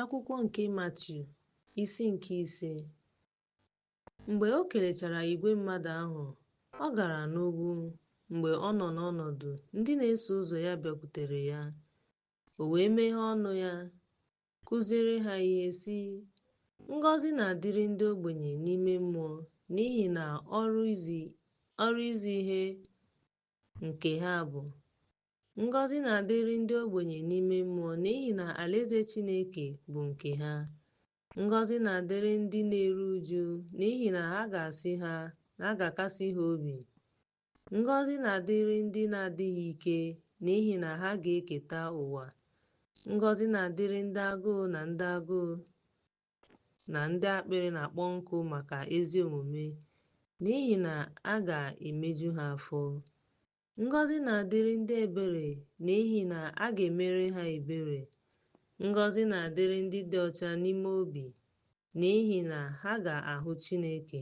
Akwụkwọ nke Matiu, isi nke ise. Mgbe o kelechara igwe mmadụ ahụ, ọ gara n'ugwu. Mgbe ọ nọ n'ọnọdụ, ndị na-eso ụzọ ya bịakwutere ya. O wee meghee ọnụ ya, kụziere ha ihe, sị, Ngọzi na-adịrị ndị ogbenye n'ime mmụọ, n'ihi na ọrụ izi ihe nke ha bụ Ngọzi na-adịrị ndị ogbenye n'ime mmụọ n'ihi na alaeze Chineke bụ nke ha. Ngọzi na-adịrị ndị na-eru uju n'ihi na ha ga-asị ha na a ga-akasi ha obi. Ngọzi na-adịrị ndị na-adịghị ike n'ihi na ha ga-eketa ụwa. Ngọzi na-adịrị ndị agụụ na ndị agụụ na ndị akpịrị na-akpọ nkụ maka ezi omume n'ihi na a ga-emeju ha afọ. Ngọzi na-adịrị ndị ebere n'ihi na a ga-emere ha ebere. Ngọzi na-adịrị ndị dị ọcha n'ime obi n'ihi na ha ga-ahụ Chineke.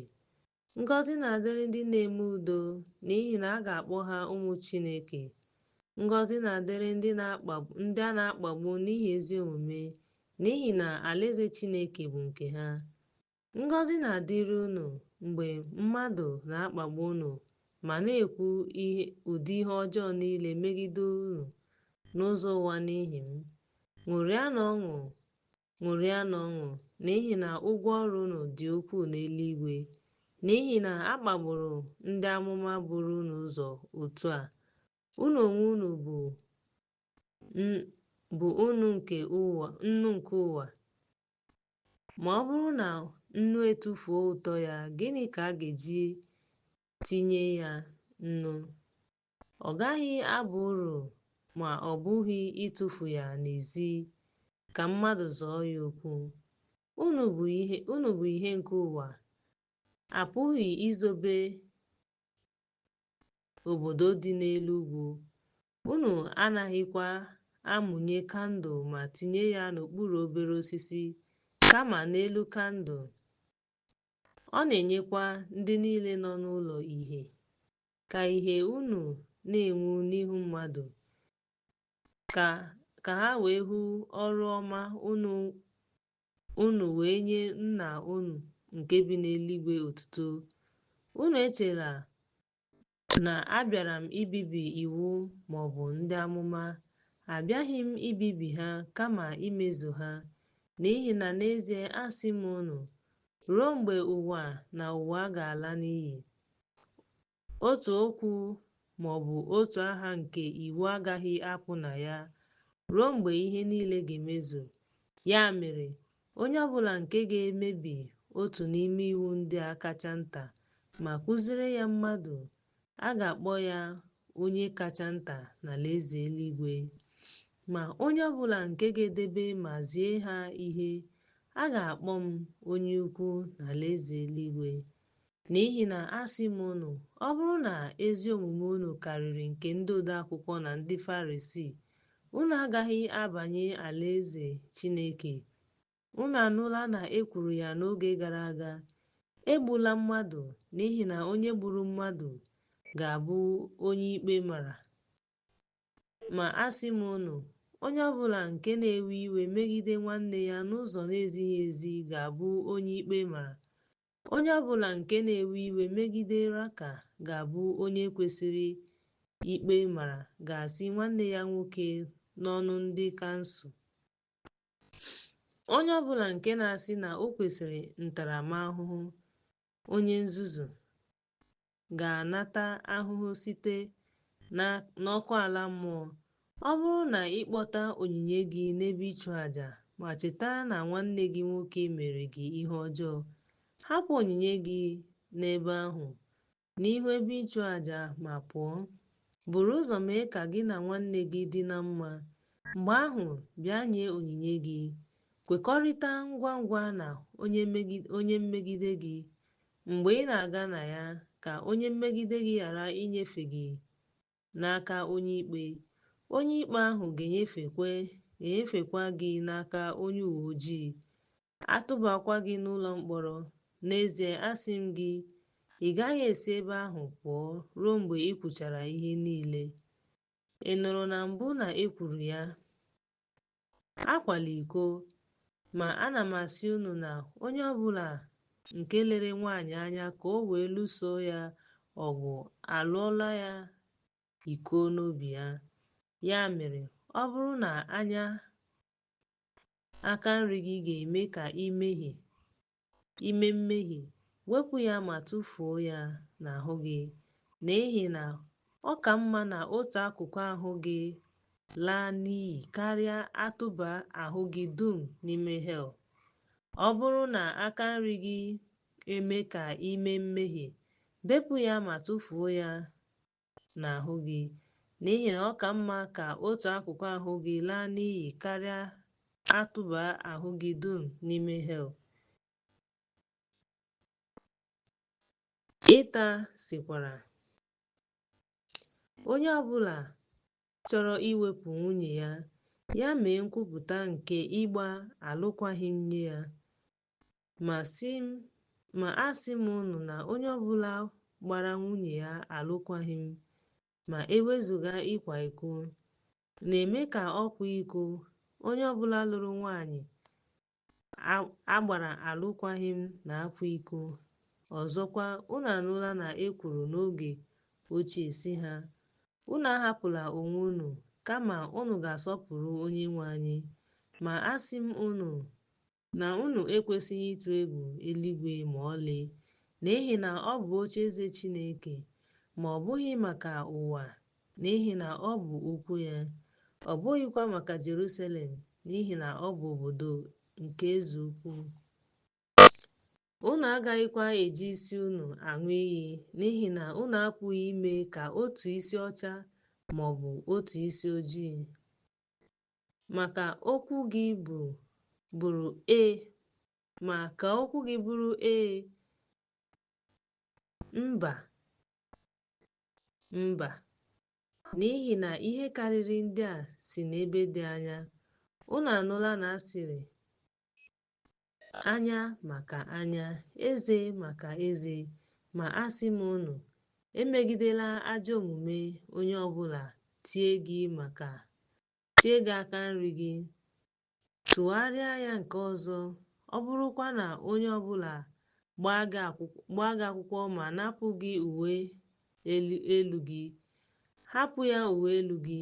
Ngọzi na-adịrị ndị na-eme udo n'ihi na a ga-akpọ ha ụmụ Chineke. Ngọzi na-adịrị ndị a na-akpagbu n'ihi ezi omume n'ihi na alaeze Chineke bụ nke ha. Ngọzi na-adịrị unu mgbe mmadụ na-akpagbu unu ma na-ekwu ụdị ihe ọjọọ niile megide unu n'ụzọ ụgha n'ihi m. Ṅụrịanụ ọṅụ, n'ihi na ụgwọ ọrụ unu dị ukwuu n'eluigwe. N'ihi na a kpagburu ndị amụma buru unu ụzọ otu a. Unu onwe unu bụ nnu nke ụwa. Ma ọ bụrụ na nnu etufuo ụtọ ya, gịnị ka a ga-eji tinye ya nnu? Ọ gaghị aba uru ma ọ bụghị ịtụfu ya n'ezi ka mmadụ zọọ ya ụkwụ. Unu bụ ìhè nke ụwa. A pụghị izobe obodo dị n'elu ugwu Unu anaghịkwa amụnye kandụl ma tinye ya n'okpuru obere osisi, kama n'elu kandụl. Ọ na-enyekwa ndị niile nọ n'ụlọ ìhè. Ka ìhè unu na-enwu n'ihu mmadụ, ka ha wee hụ ọrụ ọma unu wee nye Nna unu nke bi n'eluigwe otuto. Unu echela na abịara m ibibi iwu ma ọ bụ ndị amụma, abịaghị m ibibi ha kama imezu ha. N'ihi na n'ezie asị m unu, ruo mgbe ụwa na ụwa ga-ala n'iyi, otu okwu ma ọ bụ otu aha nke iwu agaghị apụ na ya ruo mgbe ihe niile ga-emezu. Ya mere, Onye ọ bụla nke ga-emebi otu n'ime iwu ndị a kacha nta ma kụziere ya mmadụ, a ga-akpọ ya onye kacha nta n'alaeze eluigwe. Ma onye ọ bụla nke ga-edebe ma zie ha ihe, a ga-akpọ m onye ukwu n'alaeze eluigwe. N'ihi na asị m unu, ọ bụrụ na ezi omume unu karịrị nke ndị odeakwụkwọ na ndị Farisii, unu agaghị abanye alaeze Chineke. Unu anụla na e kwuru ya n'oge gara aga, Egbula mmadụ, n'ihi na onye gburu mmadụ ga-abụ onye ikpe mara. Ma asị m unu, onye ọ bụla nke na-ewe iwe megide nwanne ya n'ụzọ na-ezighị ezi ga-abụ onye ikpe mara, Onye ọ bụla nke na-ewe iwe megide Raka ga-abụ onye kwesịrị ikpe mara ga-asị nwanne ya nwoke n'ọnụ ndị kansụl. Onye ọ bụla nke na-asị na o kwesịrị ntaramahụhụ, onye nzuzu, ga-anata ahụhụ site n'ọkụ ala mmụọ. Ọ bụrụ na ị kpọta onyinye gị n'ebe ịchụ aja ma cheta na nwanne gị nwoke mere gị ihe ọjọọ, hapụ onyinye gị n'ebe ahụ n'ihu ebe ịchụ aja ma pụọ. Buru ụzọ mee ka gị na nwanne gị dị na mma. Mgbe ahụ, bịa nye onyinye gị. Kwekọrịta ngwa ngwa na onye mmegide gị, Mgbe ị na-aga na ya, ka onye mmegide gị ghara inyefe gị n'aka onye ikpe, onye ikpe ahụ ga-enyefekwa ga-enyefekwa gị n'aka onye uwe ojii, a tụbakwa gị n'ụlọ mkpọrọ. N'ezie, asị m gị, ị gaghị esi ebe ahụ pụọ ruo mgbe ị kwụchara ihe niile. Ị nụrụ na mbụ na e kwuru ya, Akwala iko. Ma ana m asị unu na onye ọ bụla nke lere nwaanyị anya ka o wee lụso ya ọgụ alụọla ya iko n'obi ya. Ya mere, ọ bụrụ na anya aka nri gị ga-eme ka i mehie, ime mmehie, wepụ ya ma tụfuo ya n'ahụ gị, n'ihi na ọ ka mma na otu akụkụ ahụ gị laa n'iyi karịa atụba ahụ gị dum n'ime hel. Ọ bụrụ na aka nri gị eme ka ime mmehie, bepụ ya ma tụfuo ya n'ahụ gị, n'ihi na ọ ka mma ka otu akụkụ ahụ gị laa n'iyi karịa a tụba ahụ gị dum n'ime hel. Ịta sịkwara. Onye ọ bụla chọrọ iwepụ nwunye ya, ya mee nkwupụta nke ịgba alụkwaghịm nye ya. Ma asị m unu na onye ọbụla gbara nwunye ya alụkwaghịm ma ewezuga ịkwa iko na-eme ka ọ kwaa iko onye ọbụla lụrụ nwaanyị a gbara alụkwaghịm na-akwa iko ọzọkwa unu anụla na e kwuru n'oge ochie sị ha unu ahapụla onwe unu kama unu ga-asọpụrụ Onyenwe anyị ma asị m unu Na unu ekwesịghị ịtụ egwu eluigwe ma ọlị, n'ihi na ọ bụ ocheeze Chineke, ma ọ bụghị maka ụwa, n'ihi na ọ bụ ụkwụ ya, ọ bụghịkwa maka Jerusalem, n'ihi na ọ bụ obodo nke eze ukwu. Unu agaghịkwa eji isi unu aṅụ iyi, n'ihi na unu apụghị ime ka otu isi ọcha ma ọ bụ otu isi ojii. ma ka okwu gị bụ bụrụ ee ma ka okwu gị bụrụ ee mba mba n'ihi na ihe karịrị ndị a si n'ebe dị anya unu anụla na a sịrị Anya maka anya, eze maka eze. Ma asị m unu, emegidela ajọ omume onye ọbụla tie gị maka tie gị aka nri gị. Tụgharịa ya nke ọzọ, ọ bụrụkwa na onye ọbụla gbaa gị akwụkwọ ma napụ gị uwe elu gị, hapụ ya uwe elu gị.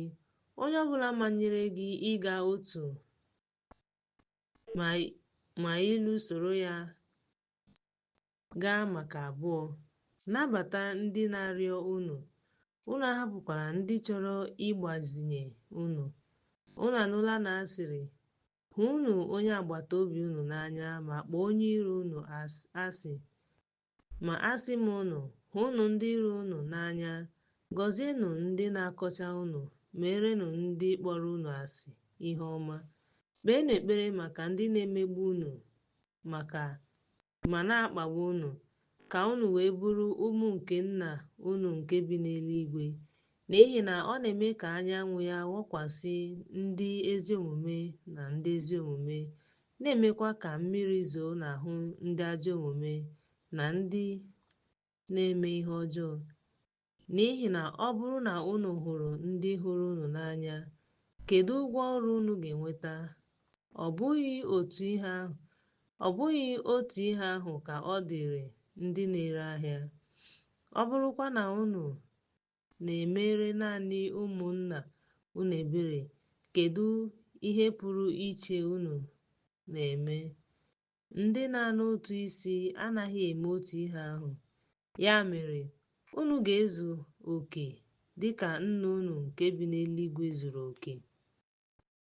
Onye ọbụla manyere gị ịga otu maịlụ soro ya gaa maka abụọ. Nabata ndị na-arịọ unu, unu ahapụkwala ndị chọrọ ịgbazinye unu. Unu anụla na a sịrị, Hụnụ onye agbata obi unu n'anya ma kpọọ onye iro unu asị. Ma asị m unu, hụnụ ndị iro unu n'anya, gọzienụ ndị na-akọcha unu, meerenụ ndị kpọrọ unu asị ihe ọma, kpeenụ ekpere maka ndị na-emegbu unu maka ma na-akpagbu unu, ka unu wee bụrụ ụmụ nke Nna unu nke bi n'eluigwe, N'ihi na ọ na-eme ka anyanwụ ya wakwasị ndị ezi omume na ndị ezi omume, na-emekwa ka mmiri zoo n'ahụ ndị ajọ omume na ndị na-eme ihe ọjọọ. N'ihi na ọ bụrụ na unu hụrụ ndị hụrụ unu n'anya, kedu ụgwọ ọrụ unu ga-enweta? Ọ bụghị otu ihe ahụ ka ọ dịịrị ndị na-ere ahịa? Ọ bụrụkwa na unu na-emere naanị ụmụnna unu ebere, kedụ ihe pụrụ iche unu na-eme? Ndị na-ana ụtụ isi anaghị eme otu ihe ahụ. Ya mere, unu ga-ezu oke dị ka Nna unu nke bi n'eluigwe zuru oke.